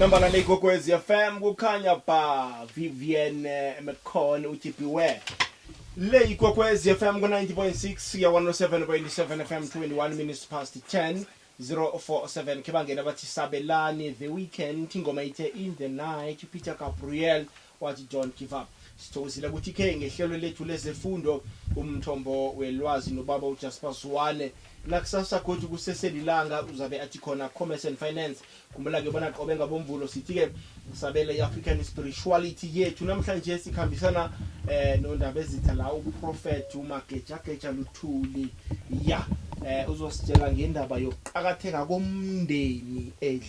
Nambala le Gogwezi FM kukhanya ba Vivienne McCon uthi beware. Le Gogwezi FM ku 90.6 ya 107.7 FM 21 minutes past 10 047 ke bangena bathi sabelani the weekend ingoma ithe in the night Peter Gabriel Wathi, Don't give up. Sithokozile ukuthi ikhe ngehlelo lethu lezefundo umthombo welwazi nobaba uJasper Zwane. Nakusasa godu kuseselilanga uzabe athi khona Commerce and Finance. Khumbula-ke bona qobe ngaboMvulo sithi-ke sabele i-African Spirituality yethu. Namhlanje sikhambisana eh noNdabezitha la uProphet uMagejageja Luthuli. Ya, eh uzositshela ngendaba yokuqakatheka komndeni edla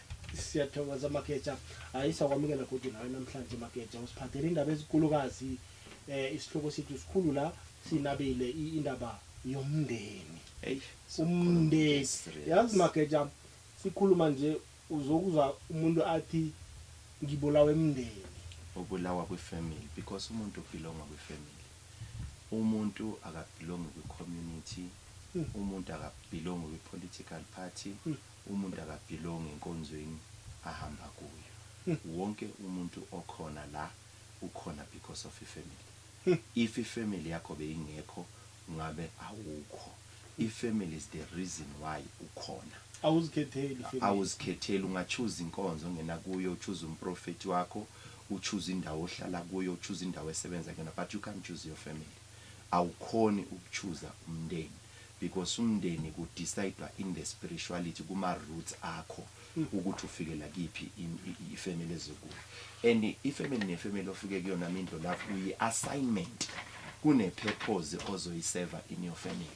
Siyathokoza Mageja. Hayi sakwamukela godi nawe namhlanje Mageja. Usiphathele indaba ezikulukazi eh isihloko sethu sikhulu la sinabile i- indaba yomndeni. Eish. Umndeni. Yazi Mageja sikhuluma nje uzokuzwa umuntu athi ngibulawe emndeni. Ubulawa kwifamily because umuntu ubelonga kwifamily. Umuntu akabelongi kwicommunity, umuntu akabelongi kwipolitical party, Umuntu akabhilongi enkonzweni ahamba kuyo. Wonke umuntu okhona la ukhona because of ifamily. If ifamily yakho beyingekho ungabe awukho. Ifamily is the reason why ukhona. Awuzikhetheli ifamily. Awuzikhetheli. Unga choose inkonzo ongena kuyo, u choose umprofethi wakho, u choose indawo ohlala kuyo, u choose indawo esebenza kuyona but you can't choose your family. Awukhoni uku chooser umndeni. because umndeni ku decidwa in the spirituality kuma roots akho ukuthi ufikela kiphi i family ezikuyo and i family ne family ofike kuyona mindlo lapho uyi assignment kune purpose ozoyiseva in your family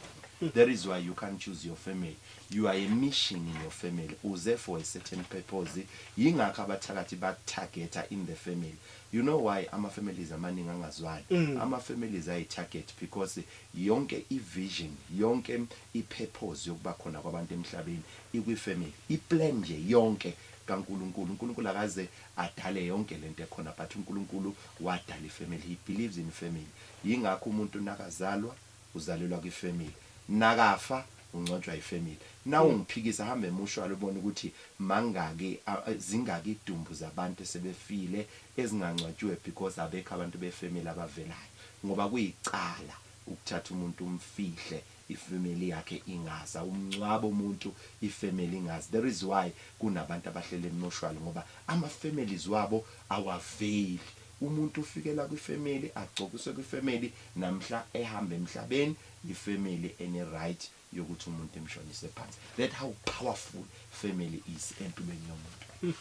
that is why you can't choose your family you are a mission in your family uze for a certain purpose yingakho abathakathi bakutargeta in the family you know why ama families amaningi angazwani mm. ama families ayi target because Yonke i vision, yonke i purpose yokuba khona kwabantu emhlabeni ikwi family. I plan nje yonke ka Nkulunkulu. Unkulunkulu akaze adale yonke lento ekhona but unkulunkulu wadala i family. He believes in family. Yingakho umuntu nakazalwa uzalelwa kwi family. Nakafa ungcwatshwa yi family. Nawungiphikisa hamba emushwali ubone ukuthi mangaki, zingaki idumbu zabantu esebefile ezingangcwatshiwe because abekho abantu be family abavelayo ngoba kuyicala ukuthatha umuntu umfihle I family yakhe ingazi awumncwabi umuntu I family ingazi there is why kunabantu abahlela emotuary ngoba ama families wabo awaveli umuntu ufikela kwi family agcokiswe kwi family namhla ehamba emhlabeni I family ene right yokuthi umuntu emshonise phansi that how powerful family is empilweni yomuntu hmm.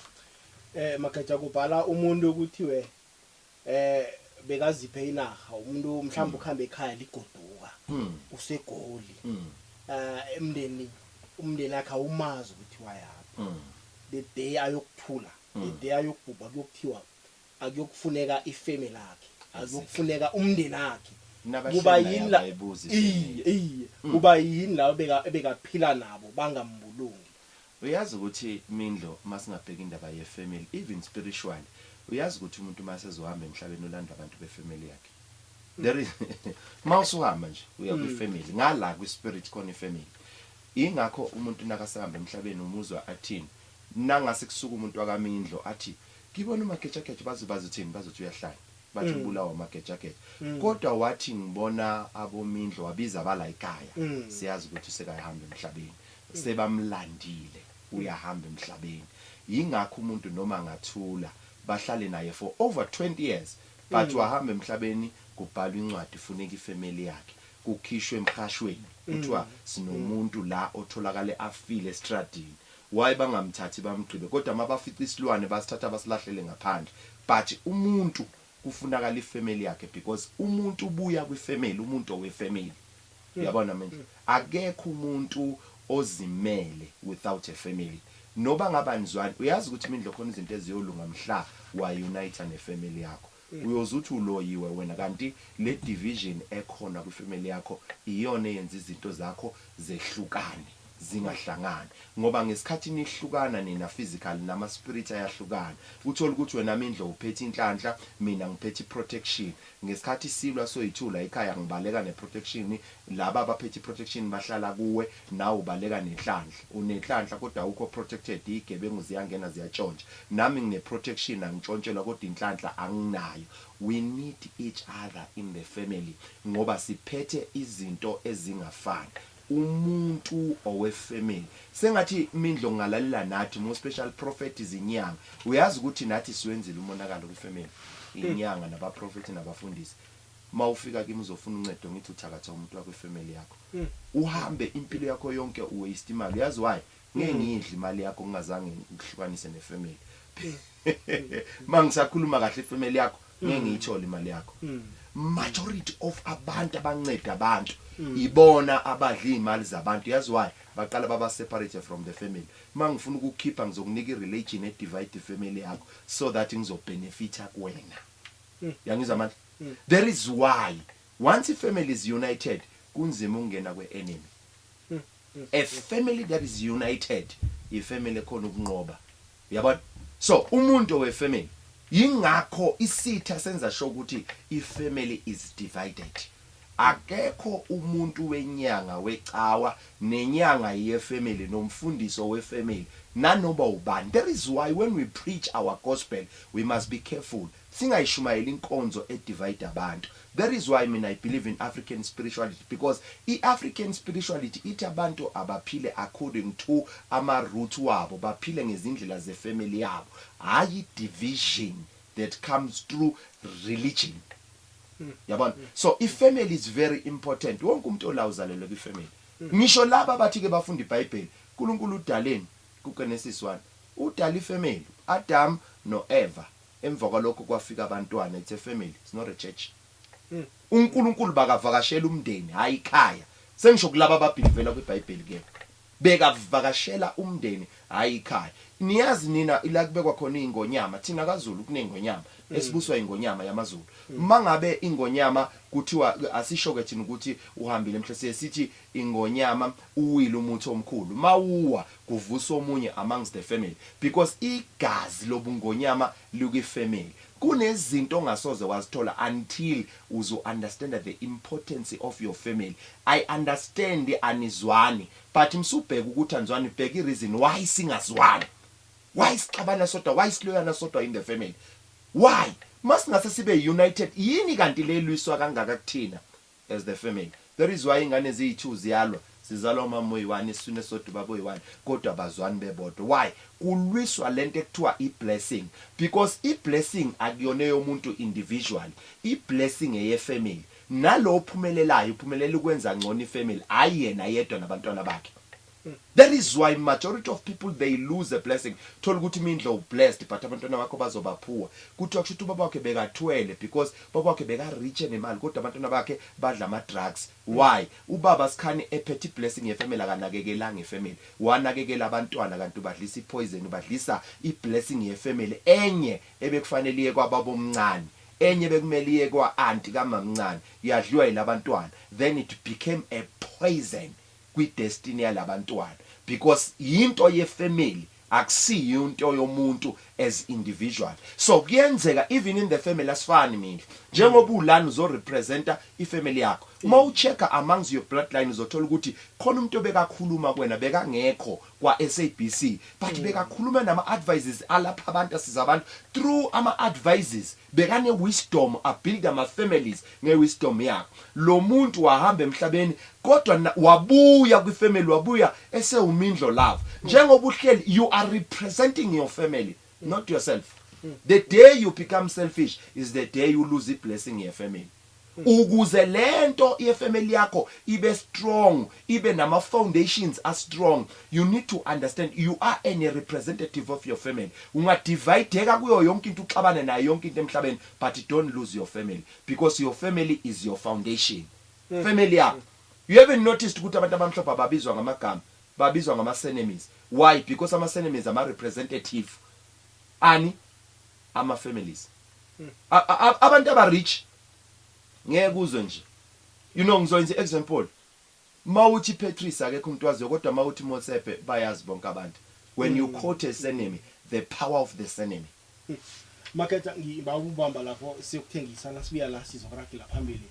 eh mageja kubhala umuntu okuthiwe eh bekaziphe inaha umuntu mhlawumbe hmm. ukuhamba ekhaya ligoduka hmm. usegoli hmm. eh emndeni umndeni akhe awumazi ukuthi wayaphi the day ayokuthula the day ayokubhubha kuyokuthiwa akuyokufuneka ifeme lakhe akuyokufuneka umndeni wakhe kuba yini la iye iye mm. kuba yini la beka ebekaphila nabo bangambulungi uyazi ukuthi mindlo masingabheka indaba ye family even spiritual uyazi ukuthi umuntu masezohamba emhlabeni ulanda abantu be family yakhe mm. there is mawusuhamba nje uya kwi mm. family ngala kwi spirit khona i family ingakho umuntu nakasahamba emhlabeni umuzwa athini nangase kusuka umuntu wakamindlo athi Ngibona umagejageja baze bazothini bazothi uyahlanya bathi mm. ubulawa umagejageja mm. kodwa wathi ngibona abomindlo wabiza abalayikaya mm. siyazi ukuthi usekayihamba emhlabeni mm. sebamlandile uyahamba emhlabeni yingakho umuntu noma ngathula bahlale naye for over 20 years but mm. wahamba emhlabeni kubhalwa incwadi funeka ifamily yakhe kukhishwe emqashweni kuthiwa mm. sinomuntu la otholakale afile estradini Why bangamthathi bamgqibe kodwa mabafica isilwane basithatha basilahlele ngaphandle but umuntu kufunakala i family yakhe because umuntu ubuya kwi family umuntu owe family uyabona manje akekho umuntu ozimele without a family noba ngaba nizwani uyazi ukuthi mindlo khona izinto eziyolunga mhla wa uniter ne family yakho Uyoze uthi uloyiwe wena kanti le division ekhona kwi family yakho iyona eyenza izinto zakho zehlukane zingahlangani ngoba ngesikhathi nihlukana nina physically nama spirit ayahlukana uthole ukuthi wena Mindlo uphethe inhlanhla mina ngiphethe i protection ngesikhathi silwa soyi two la ekhaya ngibaleka ne protection Laba abaphethe iprotection bahlala kuwe nawe ubaleka nenhlanhla unenhlanhla kodwa awukho protected iyigebengu ziyangena ziyatshontsha nami ngine protection angitshontshelwa kodwa inhlanhla anginayo we need each other in the family ngoba siphethe izinto ezingafani umuntu owe family sengathi mindlo ngingalalela nathi more special prophet izinyanga uyazi ukuthi nathi siwenzile umonakalo kwi family inyanga naba prophet nabafundisi Uma ufika kimi uzofuna uncedo ngithi uthakatha umuntu wakwe family yakho. Uhambe impilo yakho yonke u waste imali. Uyazi why? Ngeke ngiyidle imali yakho ngingazange ngikuhlukanise ne family. Mangisakhuluma kahle ifamily yakho ngeke ngiyithole imali yakho. Majority of abantu abanceda abantu ibona abadla imali zabantu. Uyazi why? Baqala baba separate from the family. Mangifuna ukukhipha ngizokunika i religion e divide ifamily yakho so that ngizo benefita kuwena. Uyangizwa manje? There is why once ifamily is united kunzima ukungena kwe-enemy. A family that is united yifamily ekhona ukunqoba. Uyabona? So umuntu owefamily yingakho isitha senza sure ukuthi ifamily is divided. Akekho umuntu wenyanga wecawa nenyanga yefamily nomfundisi owefamily nanoma ubani. There is why when we preach our gospel we must be careful Singayishumayeli inkonzo e divide abantu. That is why mina I believe in African spirituality because I African spirituality ithi abantu abaphile according to ama root wabo, baphile ngezindlela ze family yabo, hhayi division that comes through religion. Yabona? So I family is very important. Wonke umuntu ola uzalelwe kwi family. Ngisho laba abathi ke bafunda ibhayibheli, uNkulunkulu udaleni ku Genesis one? Udala I family, Adam no Eva. Emva kwalokho kwafika abantwana, it's a family, it's not a church. UNkulunkulu bakavakashela umndeni, hhayi ikhaya. Sengisho kulaba ababhilivela kwiBhayibheli ke. Bekavakashela umndeni, hhayi ikhaya. Niyazi nina ila kubekwa khona iy'ngonyama, thina kaZulu kuney'ngonyama, esibuswa yingonyama yamaZulu. Uma ngabe ingonyama kuthiwa, asisho-ke thina ukuthi uhambile emhlabeni, siye sithi Ingonyama uwile umuthi omkhulu mawuwa kuvusa omunye amongst the family because igazi lobungonyama likwi family kunezinto ongasoze wazithola until uzo understand the importance of your family I understand anizwani but msubheka ukuthi anizwani bheka i reason why singazwani why sixabana sodwa why siloyana sodwa in the family why masingase sibe united yini kanti le elwiswa kangaka kuthina as the family that is why ingane ziyi two ziyalwa zizalwa umama oyi one isiswini esisodwa ubaba oyi one kodwa abazwani bebodwa why kulwiswa lento ekuthiwa i blessing because i blessing akuyona eyomuntu individually i blessing eye family nalo ophumelelayo uphumelela ukwenza ngcono i family hayi yena yedwa nabantwana bakhe That is why majority of people they lose a blessing thola ukuthi imindlo u blessed but abantwana bakho bazoba poor kuthiwa kushuthi ubaba wakhe bekathwele because ubaba wakhe beka rich enemali kodwa abantwana bakhe badla ama drugs why ubaba skhani ephethe iblessing ye family akanakekelanga i family wanakekela abantwana kanti ubadlisa i poison ubadlisa i blessing ye family enye ebekufanele iye kwababa omncane enye bekumele iye kwa aunti kamamncane yadliwa yilabantwana then it became a poison kwi destiny yalabantwana because yinto ye family akusiyinto yomuntu as individual so kuyenzeka even in the family asifani mina njengoba ulana uzo representa i family yakho uma u checker amongs your bloodline uzothola ukuthi khona umuntu obekakhuluma kuwena bekangekho kwa SABC but bekakhuluma nama advises alapha abantu asiza abantu through ama advises Bekane wisdom a build ama families nge wisdom yakhe lomuntu wahamba emhlabeni kodwa na wabuya kwi family wabuya esewu mindlo love njengoba uhleli you are representing your family not yourself the day you become selfish is the day u lose i blessing ye family. Ukuze lento ye family yakho ibe strong ibe nama foundations a strong you need to understand you are an a representative of your family unga divideka kuyo yonke into uxabane nayo yonke into emhlabeni but don't lose your family because your family is your foundation family yakho you haven't noticed ukuthi abantu abamhlophe ababizwa ngamagama babizwa ngama surnames why because ama surnames ama representative ani ama families. Abantu aba rich ngeke uzwe nje. You know ngizoyenza i-example. Mawuthi Patrice akekho umuntu waziyo kodwa mawuthi Motsepe bayazi bonke abantu. When you quote a surname, the power of the surname. Makhetha ngiba ubamba lapho siyokuthengisana sibuya la sizokuragela phambili.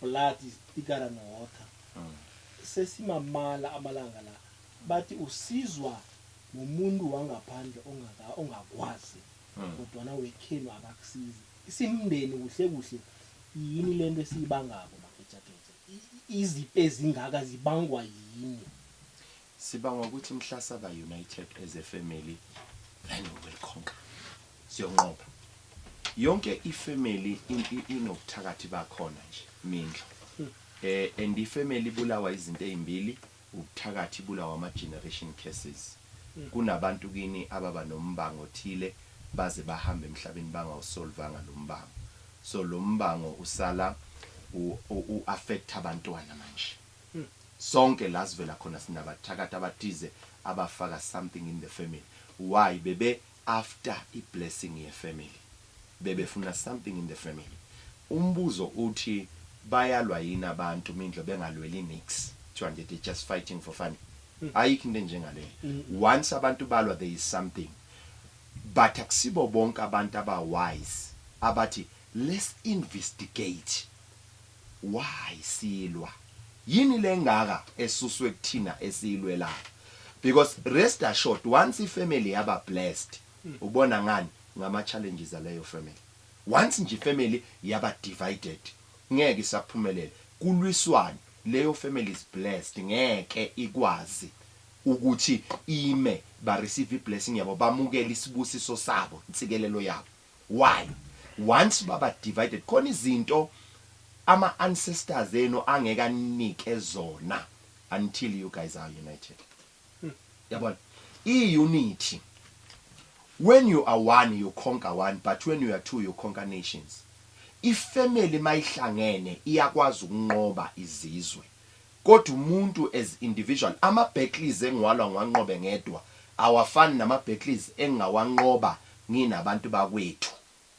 blood is thicker than water sesimamala amalanga la bathi usizwa ngomuntu wangaphandle ongaka ongakwazi hmm. kodwana wekhenu akakusizi isimndeni kuhle kuhle yini lento esiyibangako magejageja izipe ezingaka zibangwa yini Sibanga ukuthi mhla saba united as a family then we will conquer. Siyonqoba. Yonke ifamily inobuthakathi bakhona nje mindlo. Hmm. Eh and ifamily ibulawa izinto ezimbili, ubuthakathi ibulawa ama generation curses. Hmm. Kunabantu kini ababa nombango othile baze bahamba emhlabeni bangawusolvanga lo mbango. So lo mbango usala u affect abantwana manje. Sonke la sivela khona sinabathakathi abathize abafaka something in the family why bebe after i blessing ye family bebefuna something in the family umbuzo uthi bayalwa yini abantu mindlo bengalweli nix kuthiwa nje they just fighting for fun ayikho into enjengaleyo once abantu balwa there is something but akusibo bonke abantu aba wise abathi let's investigate Why silwa yini le engaka esuswe kuthina esiyilwelayo because rest assured once i family yaba blessed ubona ngani ngama challenges aleyo family once nje i family yaba divided ngeke isaphumelela kulwiswane leyo family is blessed ngeke ikwazi ukuthi ime ba receive i blessing yabo bamukele isibusiso sabo insikelelo yabo. Why? Once baba divided khona izinto ama ancestors enu angeke aninike zona until you guys are united. Yabona? I unity when you are one you conquer one but when you are two you conquer nations. I family mayihlangene iyakwazi ukunqoba izizwe Kodwa umuntu as individual ama battles engiwalwa ngiwanqobe ngedwa awafani nama battles engingawanqoba nginabantu bakwethu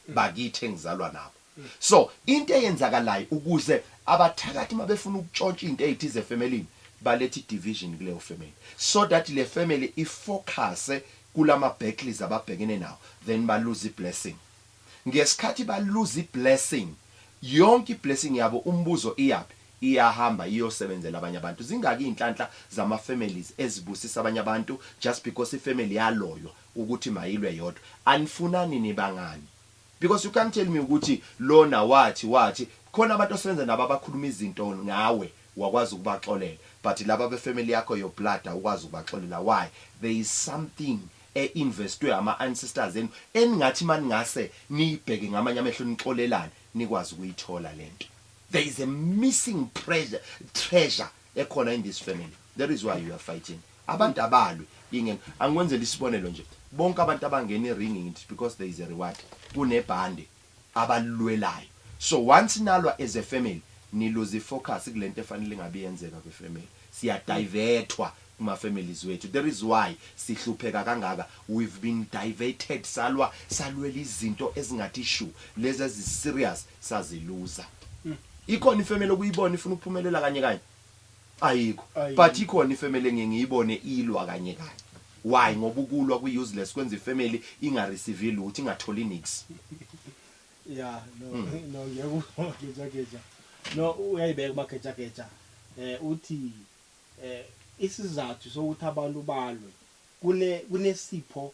bakithi engizalwa nabo so into eyenzakalayo ukuze abathakathi mabefuna ukutshontsha into eyithize efemelini baletha i division kuleyo family so that le family i focuse kulama battles ababhekene nawo then ba lose i blessing Ngesikhathi ba lose i blessing, yonke i blessing yabo umbuzo iyaphi? Iyahamba iyosebenzela abanye abantu. Zingaki iynhlanhla zama families ezibusisa abanye abantu just because i family yaloywa ukuthi mayilwe yodwa. Anifunani niba ngani? Because you can't tell me ukuthi lona wathi wathi, khona abantu osebenza nabo abakhuluma izinto ngawe wakwazi ukubaxolela but laba be family yakho your blood awukwazi ukubaxolela why? There is something e investwe ama ancestors enu eningathi maningase niyibheke ngamanye amehlo nixolelane nikwazi ukuyithola lento. There is a missing pressure, treasure ekhona in this family that is why you are fighting abantu abalwi ingen angikwenzela isibonelo nje bonke abantu abangena iringi ngithi because there is a reward kunebhande abalulwelayo so once nalwa as a family ni lose i focus kulento efanele ingabe iyenzeka kwi family siya divethwa kuma families wethu there is why sihlupheka kangaka we've been diverted salwa salwela izinto ezingathi shu lezi ezi serious sazi looser ikhona i family okuyibona ifuna ukuphumelela kanye kanye Ayikho. But ikhona ifamily engiye ngiyibone ilwa kanye kanye. Why? Ngoba ukulwa kwi useless kwenza ifamily inga receive lutho ingatholi nix. Yeah, no. Hmm. No, ngiyakuzwa geja geja. No, uyayibeka uma geja geja. Eh uthi eh isizathu sokuthi abantu balwe kune kunesipho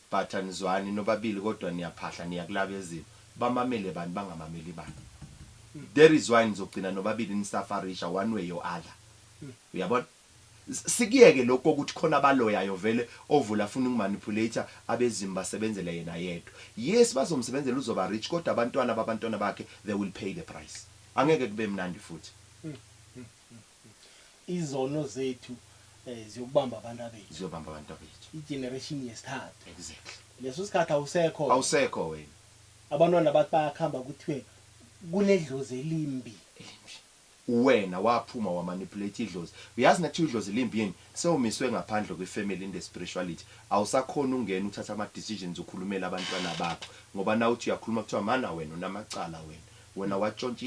But anizwani nobabili kodwa niyaphahla niya kulabezimo bamamele bani bangamameli bani that is why nizogcina nobabili nisafarisha one way or other uyabona sikuyeke lokhu kokuthi khona abaloyayo vele ovula afuna uku manipulator abezimu basebenzele yena yedwa yes bazomsebenzela uzoba rich kodwa abantwana babantwana bakhe they will pay the price angeke kube mnandi futhi. Izono zethu eh, ziyokubamba abantwabethu. Ziyobamba abantwabethu. Igeneration yesithathu. Exactly. Leso sikhathi awusekho. Awusekho wena. Abantwana bathi bayakhamba kuthiwe kunedlozi elimbi. Elimbi. Uwena waphuma wa manipulate idlozi. Uyazi nakuthiwa idlozi limbi yini? Sewumiswe ngaphandle kwe family in the spirituality. Awusakhona ukungena uthatha ama decisions ukhulumela abantwana bakho. Ngoba nawuthi uyakhuluma kuthiwa mana wena unamacala wena. Wena watshontsha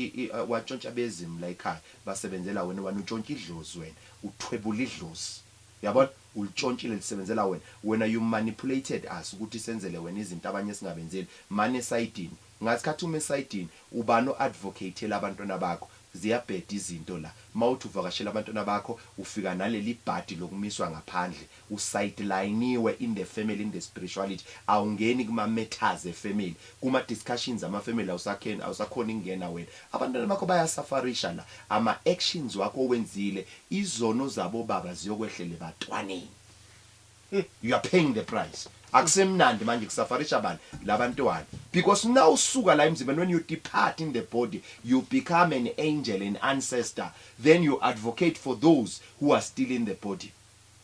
watshontsha abezimu la ekhaya basebenzela wena wena utshontsha idlozi wena uthwebula idlozi yabona ulitshontshile lisebenzela wena wena you manipulated us ukuthi senzele wena izinto abanye esingabenzeli mani esayidini ngathi khathi uma esayidini ubani o advocatela abantwana bakho ziyabheda izinto la mawuthi uvakashela abantwana bakho ufika nalelibhadi lokumiswa ngaphandle U sidelayiniwe in the family in the spirituality awungeni kuma matters e family kuma discussions ama family awusakheni awusakhoni kungena wena abantwana bakho baya safarisha la ama actions wakho owenzile izono zabo baba ziyokwehlela ebantwaneni you are paying the price akusemnandi manje kusafarisha bani labantwana because now usuka la emzimbeni when you depart in the body you become an angel an ancestor then you advocate for those who are still in the body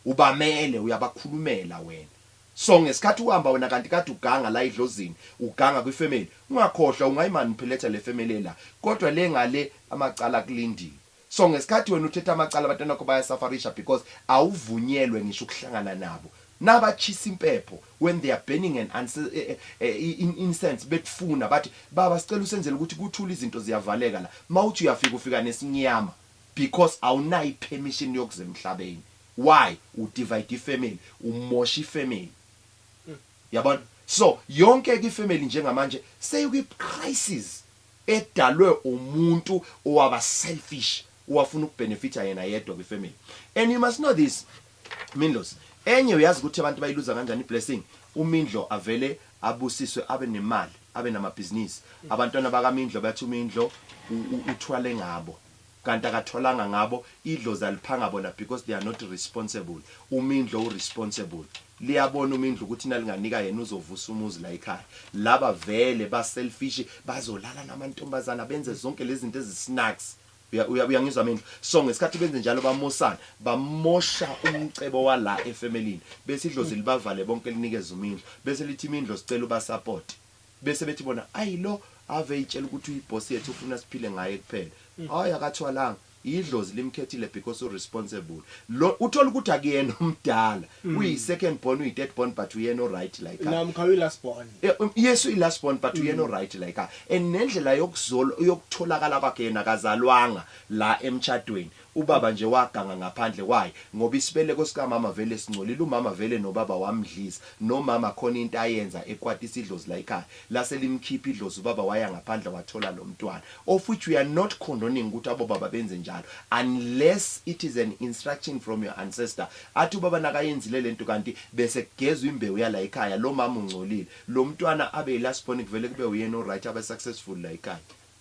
Ubamele uyabakhulumela wena so ngesikhathi uhamba wena kanti kade uganga la edlozini uganga kwi family ungakhohlwa ungayi manipulator le family ela kodwa le ngale amacala akulindile so ngesikhathi wena uthetha amacala abantwana bakho baya safarisha because awuvunyelwe ngisho ukuhlangana nabo naba tshisa impepho when they are burning an in incense bekufuna bathi baba sicela usenzele ukuthi kuthule izinto ziyavaleka la mawuthi uyafika ufika nesinyama because awunayo i permission yokuza emhlabeni why u divide i family umosha i family yabona so yonke ke i family njengamanje seyikwi crisis edalwe umuntu owaba selfish owafuna ukubenefita yena yedwa kwi family and you must know this Mindlos enye uyazi ukuthi abantu bayiluza kanjani i blessing umindlo avele abusiswe abe nemali abe namabhizinisi abantwana bakamindlo bathi umindlo uthwale ngabo Kanti akatholanga ngabo idlozi aliphanga bona because they are not responsible umindlo u responsible liyabona umindlo ukuthi nalinganika yena uzovusa umuzi la ekhaya laba vele ba selfish bazolala namantombazana benze zonke lezinto ezi snacks uyangizwa mindlo so ngesikhathi benze njalo bamosana bamosha umcebo wala efemelini bese idlozi libavale bonke linikeza umindlo bese lithi imindlo sicela ubasupport Bese bethi bona ayi lo ave eyitshela ukuthi uyiboss yethu ufuna siphile ngaye kuphela. Hayi akathwalanga. Idlozi limkhethile because u responsible. Lo uthola ukuthi akuyena omdala. Uyi second born, uyi third born but uyena o right la ekhaya. Namkha uyi last born. Yes uyi last born but uyena o right la ekhaya. And nendlela yokuzolo yokutholakala kwakhe yena akazalwanga la emtshadweni. Ubaba nje waganga ngaphandle why ngoba isibeleko sikamama vele singcolile umama vele nobaba wamdlisa nomama khona into ayenza ekwatisa idlozi layikhaya lase limkhipha idlozi ubaba waya ngaphandle wathola lomntwana of which we are not condoning ukuthi abobaba benze njalo unless it is an instruction from your ancestor athi ubaba nakayenzile lento kanti bese kugezwa imbewu yalayikhaya lomama ungcolile lomntwana abe ilast born kuvele kube uyena oryt abe successful layikhaya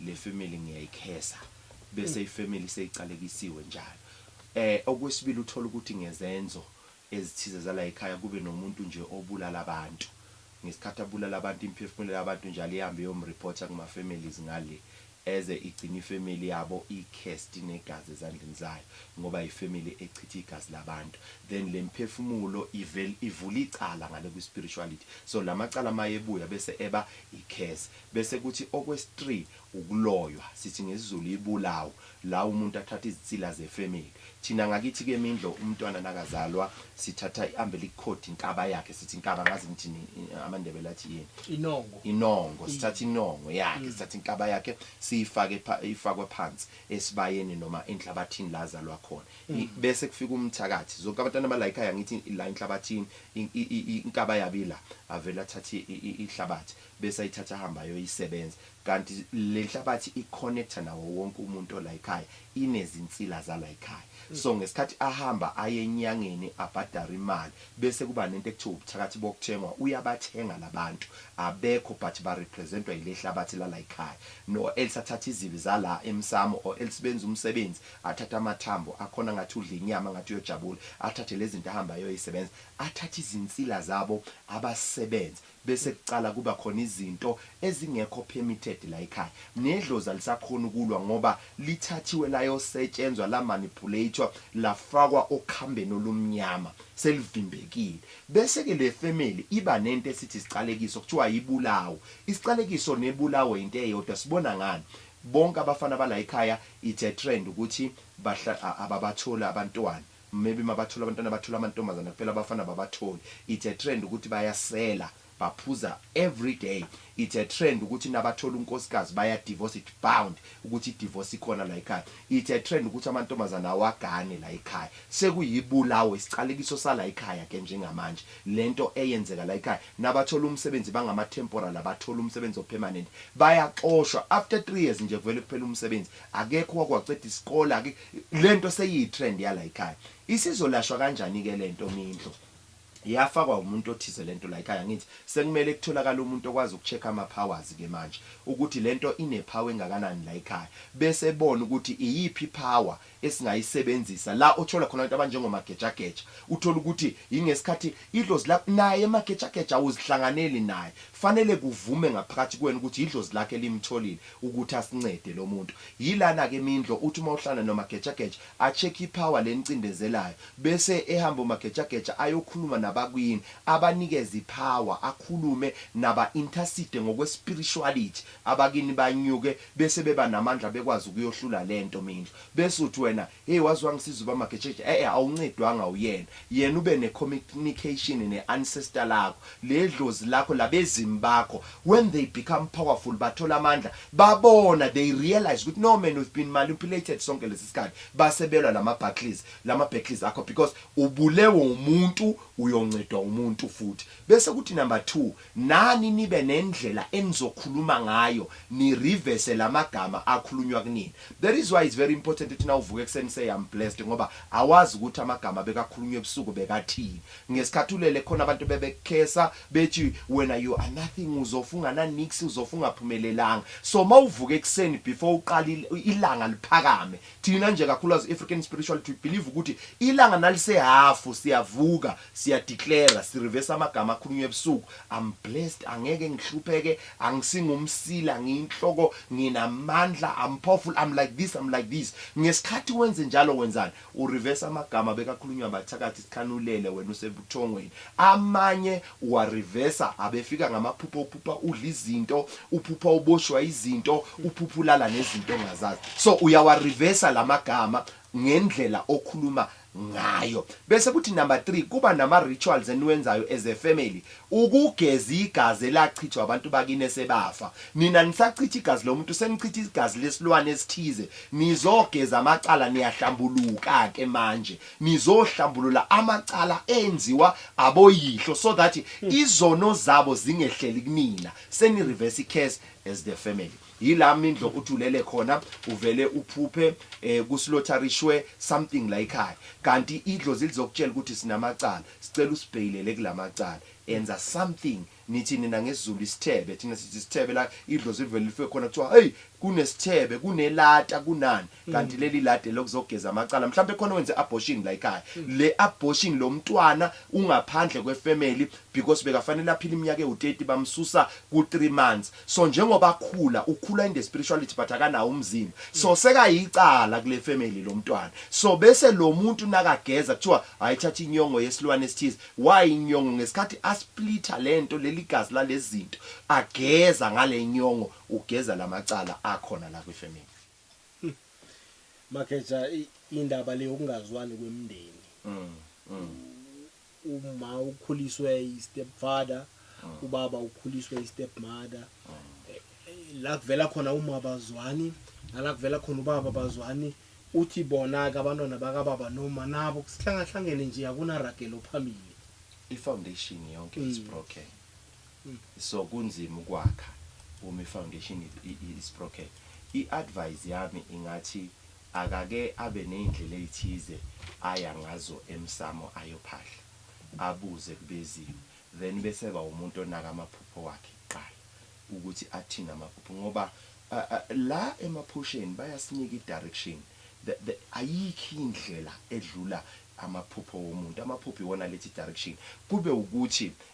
le family ngiyayikhesa bese mm. ifamily seyiqalekisiwe njalo eh okwesibili uthola ukuthi ngezenzo ezithize zala ekhaya kube nomuntu nje obulala abantu ngesikhathi abulala abantu imphefumulo yabantu njalo ihambe yomreporter kuma families ngale eze igcina ifamily yabo icast negazi ezandleni zayo ngoba ifamily echitha igazi labantu then lemphefumulo ivel ivula icala ngale kwi spirituality so lamacala mayebuya bese eba icase Bese kuthi okwesi three ukuloywa sithi ngesizulu ibulawu la umuntu athatha izinsila ze family thina ngakithi ke mindlo umntwana nakazalwa sithatha i umbilic cord inkaba yakhe sithi inkaba angazi nithini amandebele athi yini Inongo. inongo sithatha inongo yakhe sithatha inkaba yakhe siyifake pha ifakwa phansi esibayeni noma enhlabathini la azalwa khona I- bese kufika umthakathi zonke abantwana bala ekhaya ngithi la enhlabathini in- i- i- i- inkaba yabo ila avele athathe i- i- ihlabathi bese ayithatha ahambe ayoyisebenza kanti lenhlabathi i connector nawo wonke umuntu olayikhaya inezinsila zalayikhaya so ngesikhathi ahamba aye enyangeni abhadare imali bese kuba nento ekuthiwa ubuthakathi bokuthengwa uyabathenga labantu abekho but ba representwa yilehlabathi lalayikhaya no else athathe izibi zala emsamo or else benza umsebenzi athathe amathambo akhona ngathi udla inyama ngathi uyojabula athathe lezinto ahambe ayoyisebenza athathe izinsila zabo abasebenze Bese kucala kuba khona izinto ezingekho permitted layikhaya. Nedlozi alisakhoni ukulwa ngoba lithathiwe layosetshenzwa la manipulator lafakwa okhambeni olumnyama. Selivimbekile. Bese ke le family iba nento esithi isiqalekiso kuthiwa ibulawo. Isiqalekiso nebulawo into eyodwa sibona ngani? Bonke abafana balayikhaya it's a trend ukuthi ababatholi abantwana. Maybe mabathole abantwana bathole amantombazana kuphela abafana ababatholi it's a trend ukuthi bayasela baphuza everyday it's a trend ukuthi nabathola unkosikazi baya divorce it bound ukuthi i divorce ikhona la ekhaya it's a trend ukuthi amantombazana awagane la ekhaya sekuyibulawo isiqalekiso sala ekhaya ke njengamanje lento eyenzeka la ekhaya nabathola umsebenzi bangama temporal abatholi umsebenzi o permanent bayaxoshwa after 3 years nje kuvele kuphele umsebenzi Akekho owake waceda isikole ake lento seyiyi trend yala ikhaya. Isizolashwa kanjani ke lento mindlo? Yafakwa umuntu othize lento la ikhaya angithi sekumele kutholakale umuntu okwazi uku check ama powers ke manje ukuthi lento ine power engakanani la ikhaya bese ebona ukuthi iyiphi power esingayisebenzisa la othola khona abantu abanjengo Magejageja uthola ukuthi yingesikhathi idlozi lakho naye Magejageja awuzihlanganeli naye fanele kuvume ngaphakathi kuwena ukuthi idlozi lakhe limtholile ukuthi asincede lomuntu yilana ke mindlo uthi uma uhlala nomagejageja a check i power lenicindezelayo bese ehamba umagejageja ayokhuluma nabakwini abanikeze i power akhulume naba intercede ngokwe spirituality abakini banyuke bese beba namandla bekwazi ukuyohlula lento mindlo bese uthi wena Hey waze wangisiza ubama Getshetshhe eeh awuncedwanga uyena yena ube ne communication ne ancestor lakho le dlozi lakho labezimu bakho when they become powerful bathola amandla babona they realise ukuthi no man we've been manipulated sonke lesi sikhathi base belwa lama battles lama battles akho because ubulewe umuntu uyoncedwa umuntu futhi bese kuthi number two Nani nibe nendlela enizokhuluma ngayo ni reverse lamagama akhulunywa kunina. That is why it's very important ukuthi nawuvuka ekuseni say I'm blessed ngoba awazi ukuthi amagama bekakhulunywa ebusuku bekathini. Ngesikhathi ulele khona abantu bebekukhesa bethi wena you are nothing uzofa ungana niks uzofa ungaphumelelanga. So mawuvuka ekuseni before uqale ilanga liphakame. Thina nje kakhulukazi African spirituality we believe ukuthi ilanga nalise half siyavuka Siya declare si reverse amagama akhulunywa ebusuku. I'm blessed, angeke ngihlupheke, angisingumsila, ngiyinhloko, nginamandla, I'm powerful, I'm like this, I'm like this. Ngesikhathi wenze njalo wenzani? U reverse amagama bekakhulunywa abathakathi sikhanulele wena usebuthongweni. Amanye uwa reverse abefika ngamaphupho uphupha udla izinto, uphupha uboshwa izinto, uphupha ulala nezinto ongazazi. So uyawa reverse lamagama ngendlela okhuluma ngayo bese kuthi number 3 kuba nama rituals eniwenzayo as a family ukugeza igazi elachithwa abantu bakini esebafa nina nisachitha igazi lomuntu senichitha igazi lesilwane esithize nizogeza amacala niyahlambuluka ke manje nizohlambulula amacala enziwa aboyihlo so that izono zabo zingehleli kunina seni reverse curse as the family Yila mindlo uthi ulele khona uvele uphuphe eh, kusilotharishwe something la ekhaya kanti idlozi lizokutshela ukuthi sinamacala sicela usibheyilele kulamacala enza something nithi nina ngesizulu isithebe thina sithi isithebe la idlozi livele life khona kuthiwa hey kunesithebe kunelata kunani kanti mm. leli lade lokuzogeza amacala mhlawumbe khona wenze abortion la ekhaya mm. le abortion lo mntwana ungaphandle kwefamily because bekafanele aphile iminyaka ewu30 bamsusa ku 3 months so njengoba akhula ukhula in the spirituality but akanawo umzimba so mm. sekayicala kule family lo mntwana so bese lo muntu nakageza kuthiwa ayithatha inyongo yesilwane esithize why inyongo ngesikhathi asplitha lento leli gazi lalezinto ageza ngale nyongo ugeza lamacala akhona la kwifamily Hmm. Makheja indaba le yokungazwani kwemndeni. Mm. mm. Uma ukhuliswe i stepfather, mm. ubaba ukhuliswe i stepmother. Mm. Eh, la kuvela khona uma bazwani, nala kuvela khona ubaba bazwani. Uthi bona ke abantwana bakababa noma nabo kusihlanga hlangene nje akunaragelo phambili. I foundation yonke is mm. broken. So kunzima ukwakha uma i foundation is broken. I advise yami ingathi akake abe neyndlela eythize aya ngazo emsamo ayophahla, abuze kubeziwe then bese eba umuntu onaka amaphupho wakhe kuqala ukuthi athini amaphupho ngoba la emaphusheni bayasinika i direction ayikho indlela edlula amaphupho womuntu, amaphupho iwona aletha i direction kube ukuthi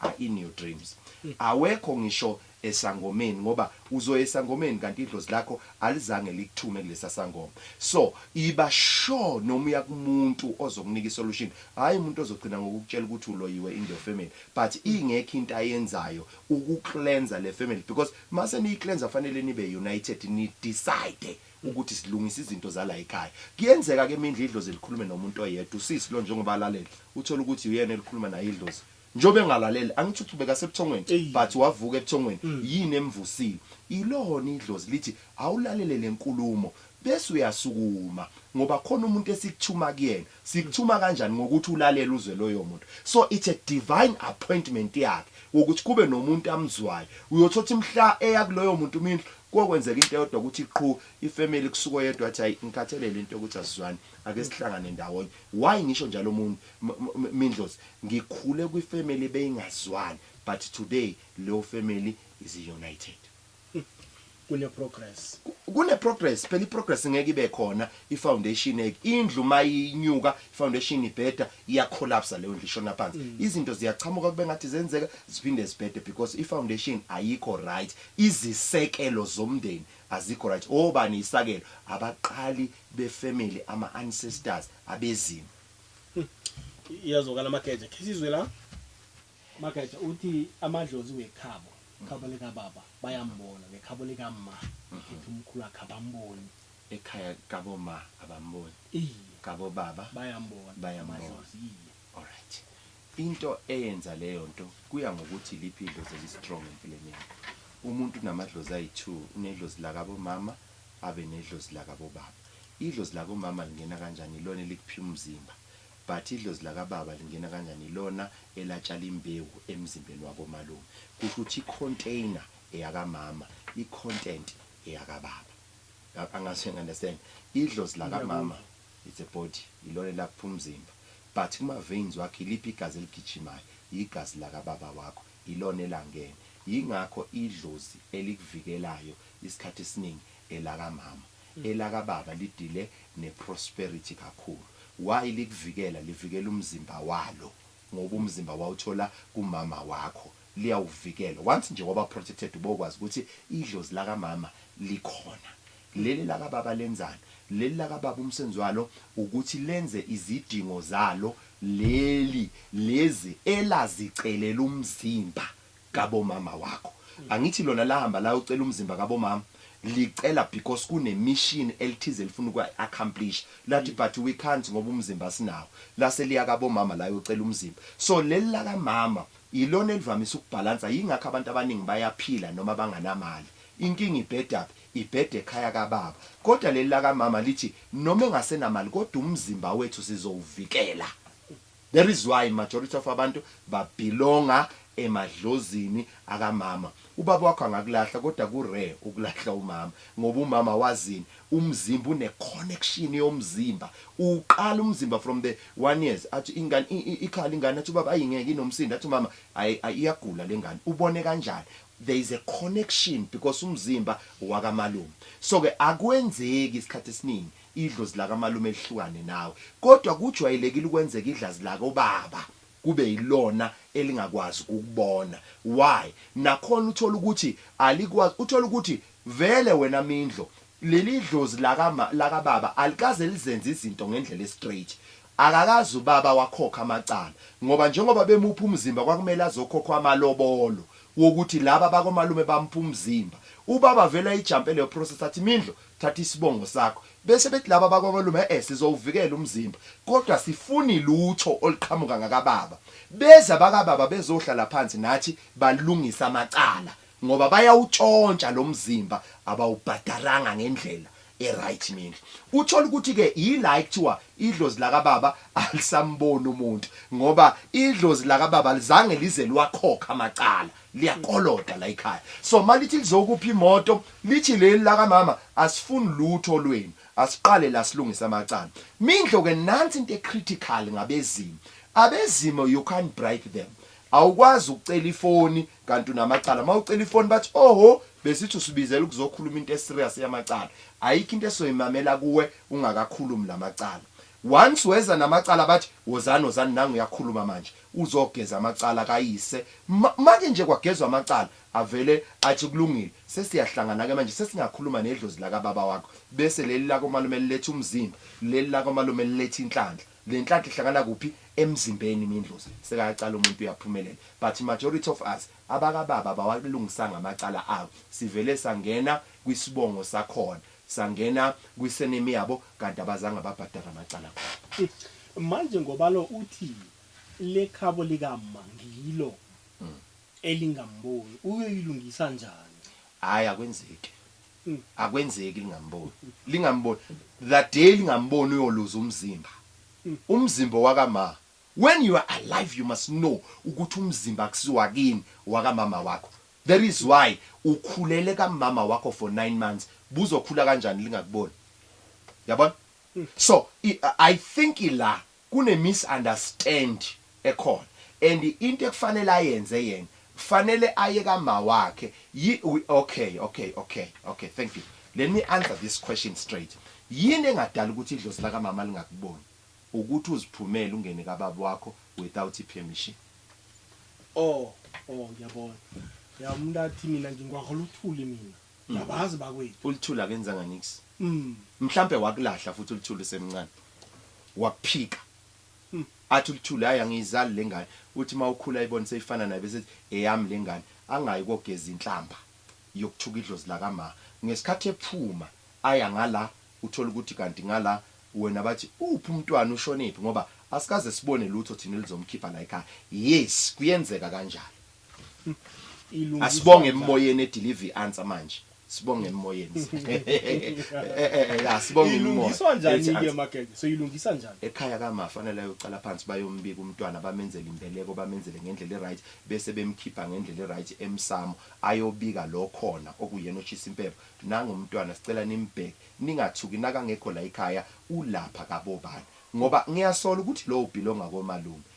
are in your dreams awekho ngisho esangomeni ngoba uzoya esangomeni kanti idlozi lakho alizange likuthume kulesa sangoma so iba sure noma uya kumuntu ozokunika isolution hayi umuntu ozogcina ngokukutshela ukuthi uloyiwe in your family but ingekho into ayenzayo ukucleansa le family because mase niyicleansa fanele nibe united ni decide ukuthi silungisa izinto zala ekhaya kuyenzeka ke imindla idlozi likhulume nomuntu oyedwa usisi lo njengoba alalela uthola ukuthi uyena elikhuluma naye idlozi Njobe engalalele angithi ukuthi ubekasebuthongweni Eyi. but wavuka ebuthongweni yini emvusile ilona idlozi lithi awulalele lenkulumo bese uyasukuma ngoba khona umuntu esikuthuma kuyena sikuthuma kanjani ngokuthi ulalele uzwe loyomuntu so it's a divine appointment yakhe wokuthi kube nomuntu amzwayo uyothothi mhla eya kuloyo muntu umindlu kokwenzeka into eyodwa ukuthi qhu ifamily kusuka oyedwa athi hayi ngikhathelele into yokuthi asizwani ake sihlangane ndawonye why ngisho njalo umuntu mindlozi Ngikhule kwi family beyingazwani but today leyo family is united. Kune progress. Kune progress phela iprogress ngeke ibe khona i foundation ek indlu mayinyuka i foundation ibheda iya collapse leyo ndlu ishona phansi mm. izinto ziyachamuka kube ngathi zenzeka ziphinde zibhede because i foundation ayikho right izisekelo zomndeni azikho right obani isakelo abaqali be family ama ancestors abezimo iyazokala mageja khisizwe la mageja uthi amadlozi wekhabo khabo likababa bayambona nekhabo likamma ethi umkhulu wakhe abamboni ekhaya kaboma abamboni iye kabo baba bayambona Bayambona. amadlozi iye alright into eyenza leyo nto kuya ngokuthi liphi idlozi elistrong empilweni yakho umuntu unamadlozi ayi-two unedlozi lakabomama Abe nedlozi lakabo baba. Idlozi lako mama lingena kanjani ilona elikuphi umzimba but idlozi laka baba lingena kanjani ilona elatshala imbewu emzimbeni wako malume kusho ukuthi i container eyaka mama i content eyaka baba angazi uyangi understand idlozi laka mama it's a body ilona elakuphi umzimba but kuma veins wakho iliphi igazi eligijimayo yigazi laka baba wakho Yilona elangeni. Yingakho idlozi elikuvikelayo isikhathi esiningi elakamama. Elakababa lidile neprosperity kakhulu. Why likuvikela? Livikela umzimba walo ngoba umzimba wawuthola kumama wakho. Liyawuvikela. Once nje waba protected ubokwazi ukuthi idlozi lakamama likhona. Leli laka baba lenzani. Leli laka baba umsebenzi walo ukuthi lenze izidingo zalo leli lezi elazicelela umzimba kabo mama wakho angithi lona lahamba layocela umzimba kabo mama licela because kune mission elithize elifuna ukwa accomplish lathi but we can't ngoba umzimba asinawo lase liya kabo mama layocela umzimba so leli laka mama ilona elivamise ukubhalansa yingakho abantu abaningi bayaphila noma banganamali inkinga ibhedaphi Ibhede ekhaya kababa kodwa leli lakamama lithi noma engasenamali kodwa umzimba wethu sizowuvikela that is why majority of abantu ba belonga emadlozini akamama ubaba wakho angakulahla kodwa ku rare ukulahla umama ngoba umama wazini umzimba une connection yomzimba uwuqala umzimba from the one years athi ingane ikhala ingane athi ubaba ayi ngeke inomsindo athi umama ayi iyagula lengane ubone kanjani There is a connection because umzimba wakamalume so ke akwenzeki isikhathi esiningi idlozi lakamalume lihlukane nawe kodwa kujwayelekile ukwenzeka idlazi lakobaba kube yilona elingakwazi ukukubona why nakhona uthola ukuthi alikwazi uthola ukuthi vele wena mindlo leli dlozi lakama lakababa alikaze lizenze izinto ngendlela estraight akakazi ubaba wakhokha amacala ngoba njengoba bemupha umzimba kwakumele azokhokhwa amalobolo wokuthi laba bakomalume bampha umzimba. Ubaba vele ayijampe leyo process athi Mindlo thatha isibongo sakho. Bese bethi laba bakomalume e-e sizowuvikela umzimba kodwa asifuni lutho oluqhamuka ngakababa. Beze abakababa bezohlala phansi nathi balungise amacala ngoba bayawutshontsha lo mzimba abawubhadaranga ngendlela. eright mina uthola ukuthi ke yila ekuthiwa idlozi lakababa alisamboni umuntu ngoba idlozi lakababa lizange lize lwakhokha amacala liyakoloda la ekhaya so malithi lizokupha imoto lithi leli lakamama asifuni lutho lwenu asiqale la silungisa amacala mindlo ke nansi into ecritical ngabezimo abezimo you can't bribe them awukwazi ukucela ifoni kanti unamacala mawucela ifoni bathi oho besithi usibizela ukuzokhuluma into eserious yamacala ayikho into esoyimamela kuwe ungakakhulumi lamacala once weza namacala bathi wozani wozani nangu uyakhuluma manje uzogeza amacala kayise make nje kwagezwa amacala avele athi kulungile sesiyahlangana ke manje sesingakhuluma nedlozi laka baba wakho bese leli lako malume liletha umzimba leli lako malume liletha inhlanhla Le nhlanhla ihlangana kuphi emzimbeni mindlozi sekayacala umuntu uyaphumelela but majority of us abakababa abawalungisanga amacala abo sivele sangena kwisibongo sakhona sangena kwi surname yabo kanti abazange babhadare amacala abo. Manje ngoba lo uthi lekhabo lika ma ngilo elingamboni uyoyilungisa njani? Hayi akwenzeki mm. akwenzeki lingamboni lingamboni the day lingamboni uyoluza umzimba mm. umzimba wakama when you are alive you must know ukuthi umzimba akusiwa kini wakamama wakho that is why ukhulele kamama wakho for 9 months buzokhula kanjani lingakuboni yabona mm. so i, I think ila Kune misunderstand ekhona and into ekufanele ayenze yena kufanele aye kamawakhe yi okay okay okay okay thank you let me answer this question straight yini engadala ukuthi idlozi lakamama lingakuboni ukuthi uziphumele ungene kababa wakho without i permission. Oh oh ngiyabona ya umuntu athi mina ngingwahola uthuli mina. Ngiyabazi bakwethu. Ulithula akenzanga nix. Mm. Mhlambe wakulahla futhi ulithula usemncane. Wakuphika. Mm. Athi ulithula hayi angiyizali lengane. Uthi mawukhula ibone seyifana naye bese eyami lengane. Angayi kogeza inhlamba yokuthuka idlozi laka ma. Ngesikhathi ephuma aya ngala uthola ukuthi kanti ngala wena bathi uphi umntwana ushonephi ngoba asikaze sibone lutho thina elizomkhipha la ekhaya. Yes kuyenzeka kanjalo. Ilungiswa Asibonge njani? emoyeni edeliver i-answer manje. Sibonge emoyeni. Eh, eh, eh, ya, Sibonge imimoya. ilungiswa njani Ethi ke answer. makeke so ilungisa njani ekhaya kama fanele ayoqala phansi bayombika umntwana bamenzele imbeleko bamenzele ngendlela eright bese bemkhipha ngendlela eright emsamo ayobika lo khona okuyena oshisa impepho nangu umntwana sicela nimbheke ningathuki nakangekho la ekhaya ulapha kabobani ngoba ngiyasola ukuthi lowo bhilonga komalume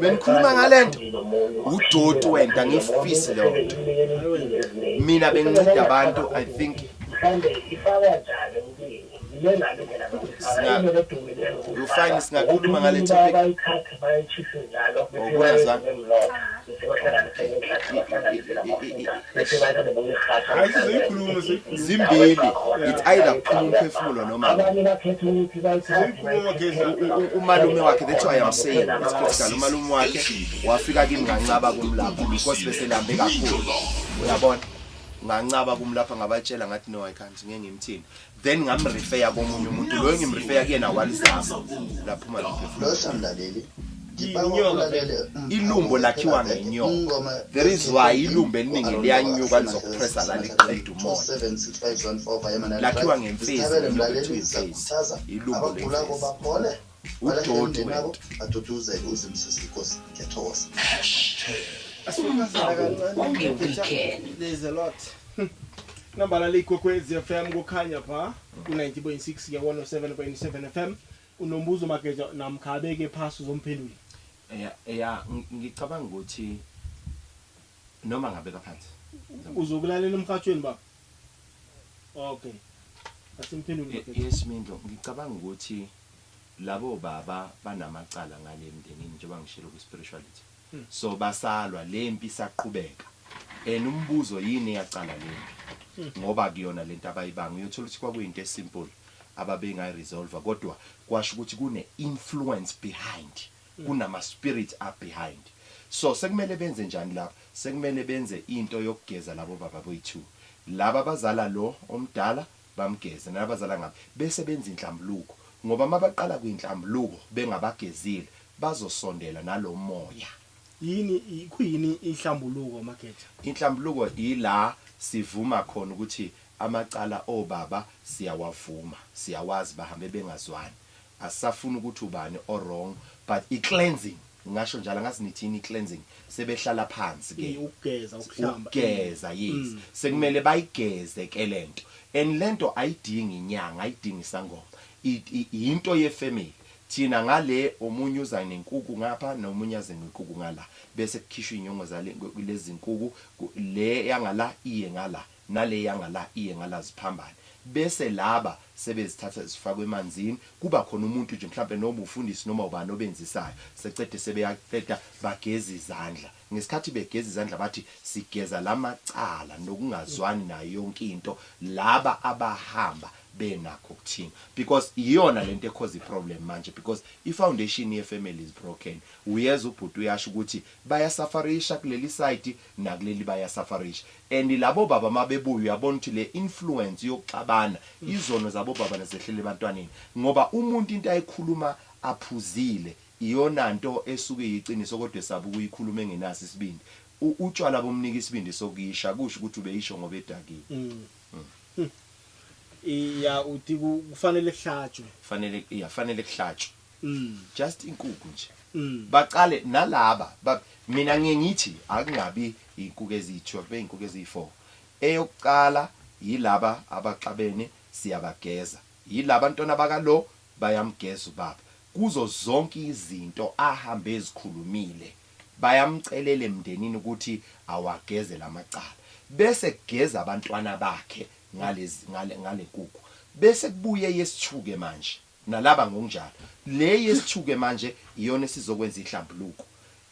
Bengikhuluma ngalento udoti wenta ngifisi leyo nto. Mina benginceda abantu I think you find singakhuluma ngale topic ngokwezwa zimbili it's either kuphuma umphefumulo noma umalume wakhe that's why I'm saying it's critical umalume wakhe wafika kimi ngancaba kumlapha because beselambe kakhulu uyabona ngancaba kumlapha ngabatshela ngathi no I can't ngeke ngimthini then ngamrefeya komunye umuntu loyo ngimrefeya kuyena walizama laphuma losamlaleli ilumbo lakhiwa ngenyoka there is why ilumbo eliningi liyanyuka lizokupressa la liqeda umoya lakhiwa ngemfezi ilumbo lemfezi udoti wena aduduzeke uzimsisi inkosi ngiyathokoza nambala liyikwekwezi fm kukhanya pha ku-90.6 nge-107.7 fm unombuzo mageja namkha abeke phasi uzomphendula ya ya ng- ngicabanga ukuthi noma ngabeka phansi uzokulalela emhatshweni baba okay asimphendule Ye- yes mindlo ngicabanga ukuthi Labo baba banamacala ngale emndenini njengoba ngishilo kwi spirituality so basalwa lempi isaqhubeka and umbuzo yini eyacala lempi ngoba akuyona lento abayibanga uyothola ukuthi kwakuyinto e simple ababengayi resolve kodwa kwasho ukuthi kune influence behind kunama spirit up behind so sekumele benze njani lapha sekumele benze into yokugeza labo baba boyi two laba abazala lo omdala bamgeze nabazala ngaphi bese benza inhlambuluko ngoba mabaqala kwinhlambuluko bengabagezile bazosondela nalomoya. Yini khuyini inhlambuluko Mageja? Inhlambuluko ila sivuma khona ukuthi amacala obaba siyawavuma siyawazi bahambe bengazwani Asisafuni ukuthi ubani o wrong but i cleansing ngingasho njalo angazi nithi yini i cleansing sebehlala phansi ke Iye, ukugeza, ukuhlamba. ukugeza yes Mm, sekumele bayigeze ke lento and lento ayidingi inyanga ayidingi isangoma I- i- yinto ye family thina ngale omunye uza nenkuku ngapha nomunye aze ngenkuku ngala bese kukhishwa inyongo zale lezinkuku ku- le yangala iye ngala nale yangala iye ngala ziphambane bese laba sebezithatha zifakwa emanzini kuba khona umuntu nje mhlampe noma ufundisi noma ubani obenzisayo secede sebeyaqeda bageza izandla ngesikhathi begeza izandla bathi sigeza lamacala nokungazwani nayo yonke into laba abahamba benakho ukuthini because iyona lento ekhoza iproblem manje because ifoundation yefamily is broken uyeza ubhuti uyasho ukuthi bayasafarisha kuleli side nakuleli baya safarisha and labo baba mabebuya uyabona ukuthi le influence yokuxabana izono zabo baba nezehlele ebantwaneni ngoba umuntu into ayikhuluma aphuzile iyona nto esuke iyiqiniso kodwa esaba ukuyikhuluma engenaso isibindi utshwala bomnika isibindi sokuyisha kusho ukuthi ubeyisho ngoba edakiwe mm. Mm. iya uthi kufanele kuhlatshwe fanele iya fanele kuhlatshwe Mm. Just inkukhu nje. Mm. Baqale nalaba ba, mina ngiye ngithi akungabi inkukhu eziyi-12 kube inkukhu eziyi-4. Eyokuqala yilaba abaxabene siyabageza. Yilaba ntwana bakalo bayamgeza ubaba. Kuzo zonke izinto ahambe ezikhulumile bayamcelela emndenini ukuthi awageze lamacala. Bese kugeza abantwana bakhe ngalezi ngale ngale nkukhu. Bese kubuye eyesithuke manje. Nalaba ngokunjalo. Le yesi-two-ke manje iyona esizokwenza ihlambuluko.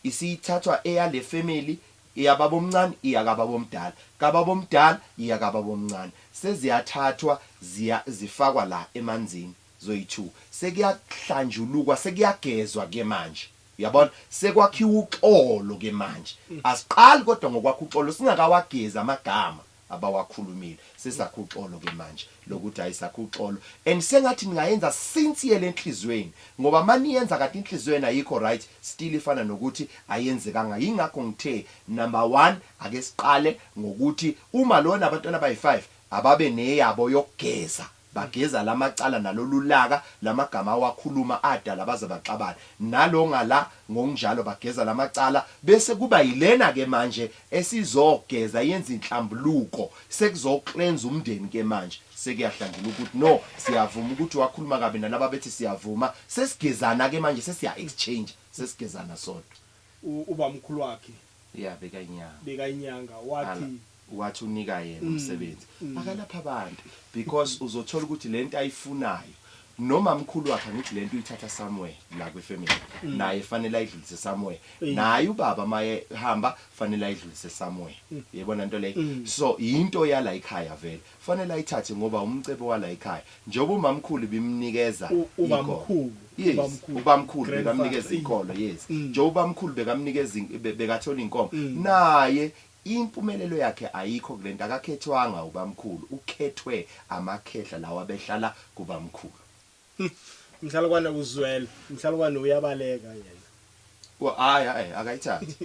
Isithathwa eyale family, eyababomncane iya kababomdala, kababomdala iya kababomncane. Seziyathathwa ziya zifakwa la emanzini zoyi-two. Sekuyahlanjulukwa, sekuyagezwa-ke manje. Uyabona? Sekwakhiwa uxolo-ke manje. Asiqali kodwa ngokwakha uxolo singakawagezi amagama. abawakhulumile sesakha uxolo ke manje lokuthi hayi sakha uxolo and sengathi ningayenza sinciyele enhliziyweni ngoba maniyenza kanti inhliziyo yena ayikho right still ifana nokuthi ayenzekanga yingakho ngithe number one ake siqale ngokuthi uma lona abantwana abayi-five ababe neyabo yokugeza Bageza lamacala nalolulaka lamagama awakhuluma adala baze baxabane nalo ngala ngokunjalo bageza lamacala bese kuba yilena ke manje esizogeza yenza inhlambuluko sekuzo cleanse umndeni ke manje sekuyahlangula ukuth no siyavuma ukuthi wakhuluma kabi nalaba bethi siyavuma sesigezana ke manje sesiya exchange sesigezana sodwa ubamkhulu wakhe ya bekainyanga bekainyanga wathi wathi unika yena mm, umsebenzi mm. akalapha abantu because mm. uzothola ukuthi lento ayifunayo noma mkhulu wakhe angithi lento uyithatha somewhere la kwi family mm. naye fanele ayidlulise somewhere mm. naye ubaba maye hamba fanele ayidlulise somewhere mm. yebona into leyo mm. so into yala ikhaya vele Kufanele ayithathe ngoba umcebo walayikhaya njengoba umamkhulu bimnikeza ubamkhulu yes ubamkhulu bekamnikeza inkolo yes njengoba ubamkhulu bekamnikeza bekathola inkomo naye impumelelo yakhe ayikho kulento akakhethwanga ubamkhulu ukhethwe amakhehla lawa behlala kubamkhulu Mhlalukwana uzwela. Mhlalukwana uyabaleka yena. Wa hayi hayi akayithathi.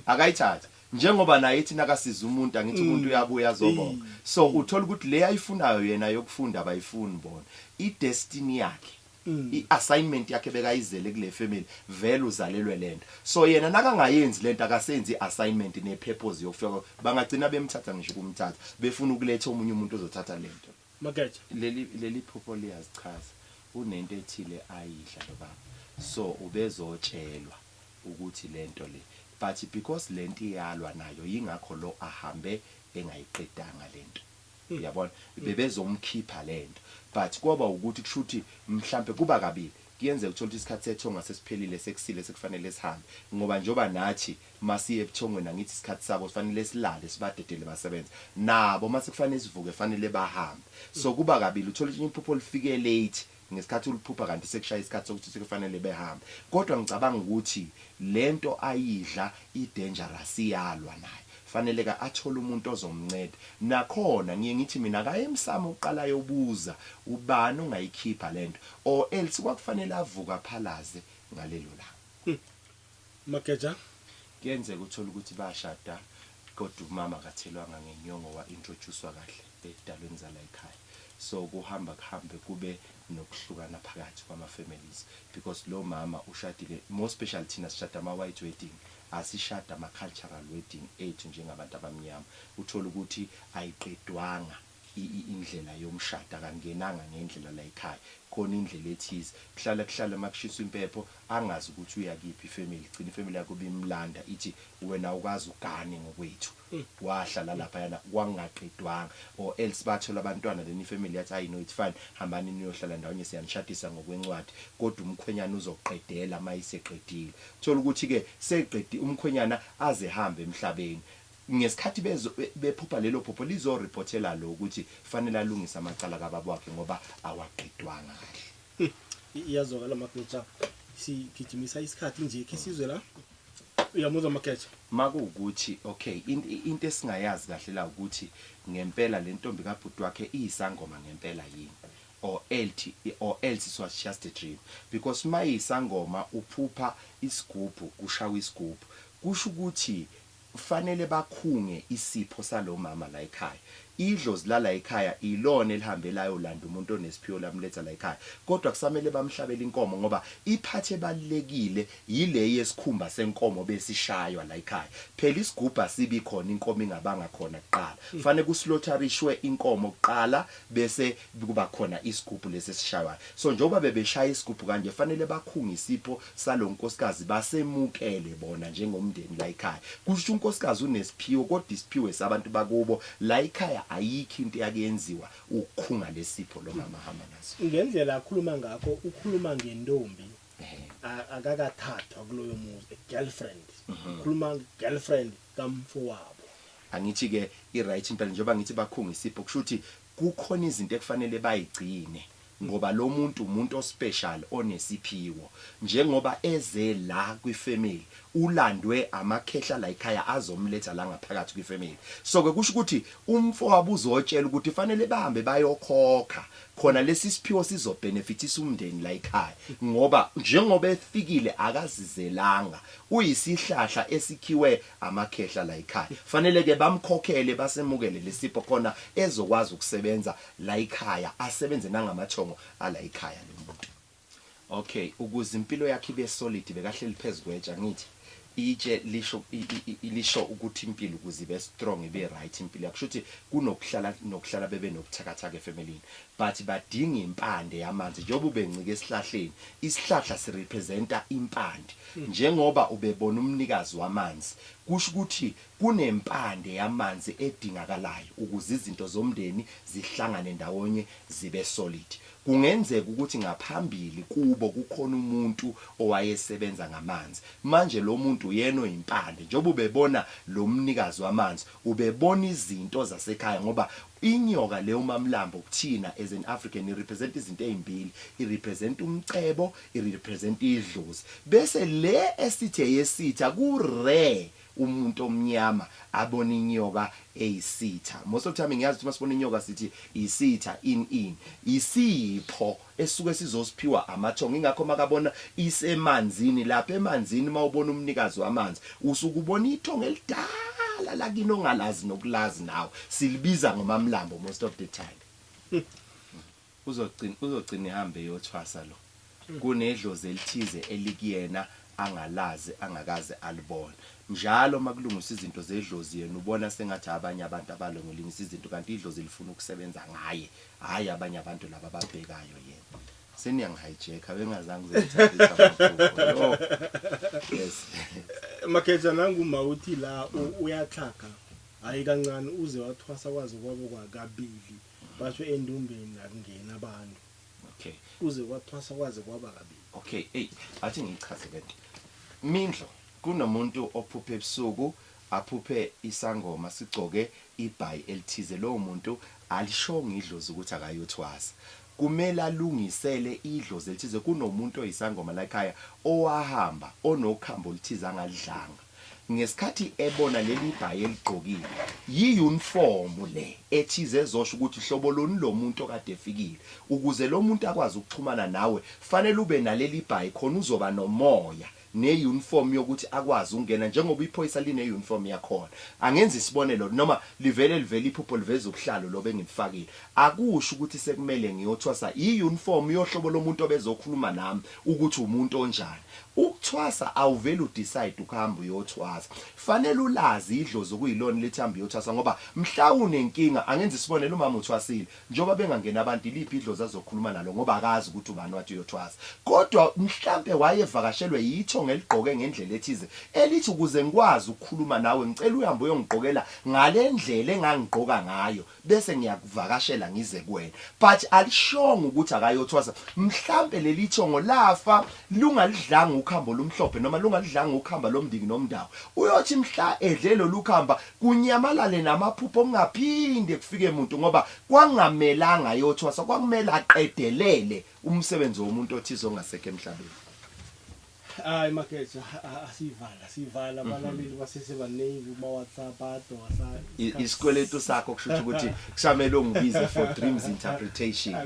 Akayithathi. Njengoba naye ithi nakasiza umuntu angithi Mm. umuntu uyabuya azobonga. Ey. So uthola ukuthi le ayifunayo yena yokufunda abayifuni bona. I destiny yakhe. Mm. I assignment yakhe bekayizele kule family vele uzalelwe lento. So yena nakangayenzi lento akasenzi i assignment ne purpose yokufika bangagcina bemthatha ngisho kumthatha befuna ukuletha omunye umuntu ozothatha lento. Mageja. Leli leli phupho liyazichaza unento ethile ayidla lo baba so ubezotshelwa ukuthi lento le but because lento iyalwa nayo yingakho lo ahambe engayiqedanga lento uyabona bebezomkhipha lento but koba ukuthi kushuthi mhlampe kuba kabili kuyenzeka uthole ukuthi isikhathi sethonga sesiphelile sekusile sekufanele sihambe ngoba njengoba nathi Masiye ebuthongweni angithi isikhathi sabo sifanele silale sibadedele basebenze nabo mase kufanele sivuke fanele bahambe so kuba kabili uthola ukuthi iphupho lifike late ngesikhathi uliphupha kanti sekushaye isikhathi sokuthi sekufanele behambe kodwa ngicabanga ukuthi lento ayidla i dangerous iyalwa nayo faneleka athole umuntu ozomnceda nakhona ngiye ngithi mina akaye emsamo kuqala ayobuza ubani ongayikhipha lento or else kwakufanele avuke aphalaze ngalelo langa. Mageja. Kuyenzeka uthole ukuthi bashada kodwa umama akathelwanga ngenyongo wa introducwa kahle ezidalweni zalayikhaya so kuhamba kuhambe kube nokuhlukana phakathi kwama families because lo mama ushadile more special thina sishada ama white wedding asishada ama cultural wedding ethu njengabantu abamnyama uthole ukuthi ayiqedwanga indlela yomshado akangenanga ngendlela layikhaya khona indlela ethize kuhlala kuhlala makushiswa impepho angazi ukuthi uya kiphi ifamily gcina ifamily yakho bimlanda ithi wena awukazi ugane ngokwethu wahla lalaphayana kwangaqedwanga or else bathola abantwana then ifamily yathi ayi no it's fine hambani niyohlala ndawonye siyanishadisa ngokwencwadi kodwa umkhwenyana uzoqedela mayeseqedile uthole ukuthi ke seqedi umkhwenyana aze hambe emhlabeni Ngesikhathi bezo bephupha lelo phupho lizo reportela lo ukuthi fanele alungise amacala kababa wakhe ngoba awaqedwanga kahle. Iyazwakala Mageja sigijimisa isikhathi nje khe sizwe la uyamuzwa Mageja. Makuwukuthi okay into esingayazi kahle la ukuthi ngempela lentombi kabhuti wakhe iyisangoma ngempela yini or elthi or else it was just a dream because mayisangoma uphupha isigubhu kushawa isigubhu kusho ukuthi Kufanele bakhunge isipho salomama layikhaya. Idlozi lalayikhaya ilona elihambe layolanda umuntu onesiphiwo lamletha layikhaya. Kodwa kusamele bamhlabele inkomo ngoba iphathi ebalulekile yile yesikhumba senkomo besishaywa layikhaya. Phela isigubhu asibi khona inkomo ingabanga khona kuqala. Kufanele kuslotharishwe inkomo kuqala bese kuba khona isigubhu lesi esishaywayo so njengoba bebeshaya isigubhu kanje fanele bakhunge isipho salo nkosikazi basemukele bona njengomndeni la ekhaya kusho unkosikazi unesiphiwo kodwa isiphiwo esabantu bakubo la ekhaya ayikho into eyake yenziwa ukukhunga lesipho lo mama ahamba naso Ngendlela akhuluma ngakho ukhuluma ngentombi a- akakathathwa kuloyo muzi a girlfriend ukhuluma girlfriend kamfowabo angithi ke i right impela njengoba ngithi bakhunga isipho kusho ukuthi Kukhona izinto ekufanele bayigcine ngoba lomuntu umuntu ospecial onesiphiwo njengoba eze la kwi family ulandwe amakhehla layikhaya azomletha la ngaphakathi kwi family so ke kusho ukuthi umfowabo uzotshela ukuthi fanele bahambe bayokhokha khona lesisiphiwo sizo benefitisa umndeni layikhaya ngoba njengoba efikile akazizelanga uyisihlahla esikhiwe amakhehla la ekhaya fanele ke bamkhokhele basemukele lesipho khona ezokwazi ukusebenza la ekhaya asebenze nangamathongo ala ekhaya lo muntu okay ukuze impilo yakhe ibe solid bekahleli phezukweja ngithi itshe lisho lisho ukuthi impilo ukuze ibe strong ibe right impilo yakusho ukuthi kunokuhlala nokuhlala bebe nokuthakathaka efamilini but badinga impande yamanzi njengoba ubencike esihlahleni isihlahla sirepresenta impande Njengoba ubebona umnikazi wamanzi, kusho ukuthi kunempande yamanzi edingakalayo ukuze izinto zomndeni zihlangane ndawonye zibe solid. Kungenzeka ukuthi ngaphambili kubo kukhona umuntu owayesebenza ngamanzi. Manje lo muntu uyena oyimpande. Njengoba ubebona lo mnikazi wamanzi, ubebona izinto zasekhaya ngoba inyoka le uMaMlambo kuthina as an African i-represent izinto ezimbili, i-represent umcebo, irepresent idlozi bese le esithi eyesitha ku rare umuntu omnyama abona inyoka eyisitha most of the time ngiyazi ukuthi masibona inyoka sithi isitha in in isipho esuke sizosiphiwa amathongo ingakho makabona isemanzini lapha emanzini mawubona umnikazi wamanzi usuke ubona ithongo elidala lakini ongalazi nokulazi nawe silibiza ngomamlambo most of the time Uzogcina uzogcina ehamba eyothwasa lo. Kunedlozi elithize elikuyena angalazi angakaze alibone. Njalo makulungiswa izinto zedlozi yena ubona sengathi abanye abantu abalongilingisa izinto kanti idlozi lifuna ukusebenza ngaye hhayi abanye abantu laba ababhekayo yena. Seniyangi-hijacker bengazange uzengithathisa amaphupho. Yooh. Yes. Makheja nangu ma uthi la u- uyatlhaga hayi kancane uze wathwasa kwaze kwabo kwakabili Batsho endumbeni akungena abantu. Okay. Kuze kwathwasa kwaze kwaba kabi. Okay, hey, athi ngichaze lento. Mindlo kunomuntu ophuphe ebusuku aphuphe isangoma sigcoke ibhayi elithize lowo muntu alishonga idlozi ukuthi akayothwasa kumele alungisele idlozi elithize kunomuntu oyisangoma lakhaya owahamba onokhambo oluthize angalidlanga ngesikhathi ebona leli bhayi eligqokile yiyunifomu le ethize ezosho ukuthi hlobo loni lo muntu okade efikile ukuze lo muntu akwazi ukuxhumana nawe fanele ube naleli bhayi khona uzoba nomoya neyunifomu yokuthi akwazi ukungena njengoba iphoyisa lineyunifomu yakhona angenza isibonelo noma livele livele iphupho liveza ubuhlalo lobe engibufakile akusho ukuthi sekumele ngiyothwasa iyunifomu yohlobo lomuntu obezokhuluma nami ukuthi umuntu onjani Ukuthwasa awuveli u decide ukuhamba uyothwasa fanele ulazi idlozi okuyilona elithi hamba uyothwasa ngoba mhla unenkinga angenza isibonelo umama uthwasile njengoba bengangeni abantu iliphi idlozi azokhuluma nalo ngoba akazi ukuthi ubani wathi uyothwasa kodwa mhlampe wayevakashelwe yithonga eligqoke ngendlela ethize elithi ukuze ngikwazi ukukhuluma nawe ngicela uhambe uyongigqokela ngalendlela engangigqoka ngayo bese ngiyakuvakashela ngize kuwena but alishongo ukuthi akayothwasa mhlampe leli thongo lafa lungalidlanga ukhambo lumhlophe noma lungalidlanga ukhamba lomndiki nomndawo uyothi mhla edle lolukhamba kunyamalale namaphupho kungaphinde kufike umuntu ngoba kwangamelanga ayothwasa kwakumele aqedelele umsebenzi womuntu othize ongasekho emhlabeni Hayi makhethi asiyivala siyivala mhm. abalaleli basesebaningi kuma WhatsApp adoka sa isikweletu sakho kusho ukuthi kusamele ungibize for dreams interpretation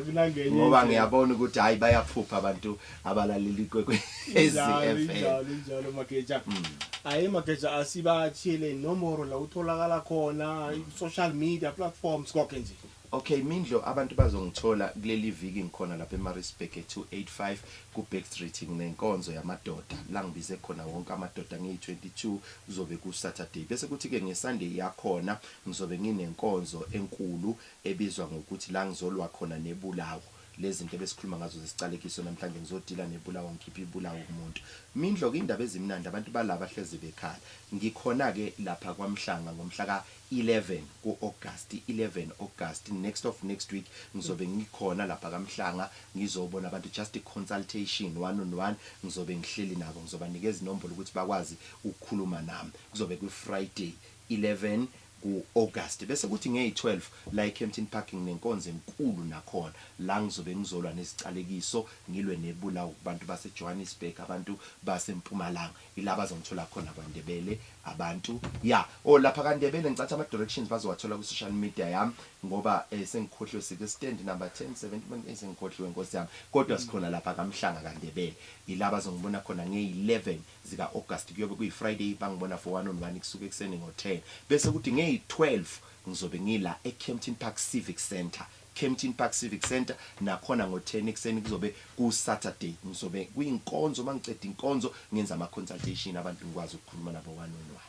ngoba ngiyabona ukuthi hayi bayaphupha abantu abalaleli kwekwe eziFM njalo njalo makeja mm. hayi makeja asibathile nomoro la utholakala khona social media platforms konke nje Ok Mindlo abantu bazongithola kuleliviki ngikhona lapha eMaritzburg e 285 ku Backstreet nginenkonzo yamadoda langibize khona wonke amadoda ngiyi 22 kuzobe ku Saturday bese kuthi ke nge Sunday yakhona ngizobe nginenkonzo enkulu ebizwa ngokuthi la ngizolwa khona nebulawo lezinto ebesikhuluma ngazo zesiqalekiso namhlanje ngizodila nebulawo ngikhiphe ibulawo kumuntu Mindlo kuyindaba ezimnandi abantu bala bahlezi bekhala ngikhona ke lapha kwaMhlanga ngomhla ka 11 ku August 11 August next of next week ngizobe ngikhona lapha kaMhlanga ngizobona abantu just a consultation one on one ngizobe ngihleli nabo ngizobanikeza inombolo ukuthi bakwazi ukukhuluma nami kuzobe kwi Friday 11 ku August bese kuthi ngeyi 12 la eKempton Park nginenkonzo enkulu nakhona la ngizobe ngizolwa neziqalekiso ngilwe nebulawo kubantu base Johannesburg abantu base Mpumalanga Ila bazongithola khona kwa Ndebele abantu ya oh lapha ka Ndebele ngicathi ama directions bazowathola ku social media yam ngoba eh sengikhohliwe sike stand number 10 17 eh sengikhohliwe nkosi yam kodwa sikhona lapha ka Mhlanga ka Ndebele ila bazongibona khona nge 11 zika August kuyobe kuyi Friday bangibona for one on one kusuka ekuseni ngo 10 bese kuthi ngeyi 12 ngizobe ngila e Kempton Park Civic Centre Kempton Park Civic Centre nakhona ngo 10 ekuseni kuzobe ku Saturday ngizobe kuyinkonzo mangiqeda inkonzo ngenza ama consultation abantu ngikwazi ukukhuluma nabo one on one.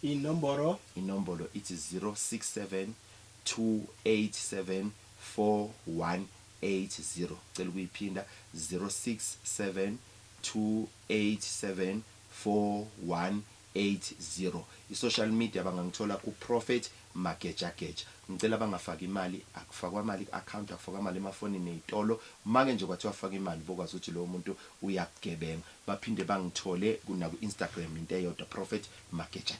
Inombolo? Inombolo ithi 067 2874180 cela ukuyiphinda 067 2874180. 80 I social media bangangithola ku Prophet Magejageja ngicela bangafaki imali akufakwa mali ku account akufakwa mali emafonini ezitolo make nje kwathiwa faka imali bokwazi ukuthi lowo muntu uyakugebenga baphinde bangithole ku naku Instagram into eyodwa Prophet Magejageja.